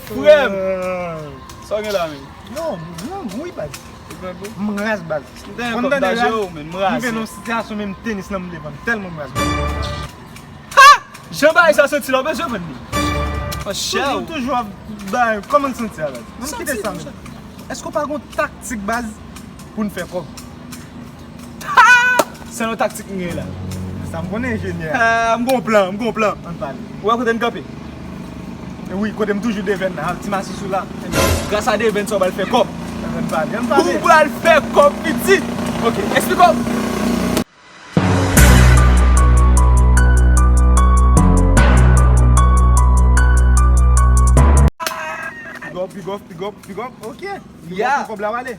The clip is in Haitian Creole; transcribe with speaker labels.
Speaker 1: Frèm! Sa w gen la menm? Yo, mwen
Speaker 2: gou wi baz. Ou gen gou? M raz baz. M te renkontre m daje yo
Speaker 1: menm, m raz. M rive nan yon sitiyasyon menm
Speaker 2: tenis lan m vle vann tèlman m raz baz. Ha!
Speaker 1: Jan bagay sa santi la w bezwen vann li? An chè ou? Toujou toujou ap bay,
Speaker 2: kòman l santi la baz? Santi dousman. Èske w pa gen yon taktik baz pou n fè kòb?
Speaker 1: Sèl yon taktik m gen la. Sa m konnen
Speaker 2: enjenyè. M gon plan, m gon
Speaker 1: plan. Ann pale.
Speaker 2: Ou wè kote n kanpe? Wi, kote m toujou devenn nan. Ak ti masis ou la. Gras a devenn
Speaker 1: sa w pral fè kòb. Ann pale, ann pale.
Speaker 2: Ou pral fè
Speaker 1: kòb pitit. Ok, esplike w. Bigòp,
Speaker 2: bigòp, bigòp, bigòp. Ok. Ya! Kòb la
Speaker 1: wale.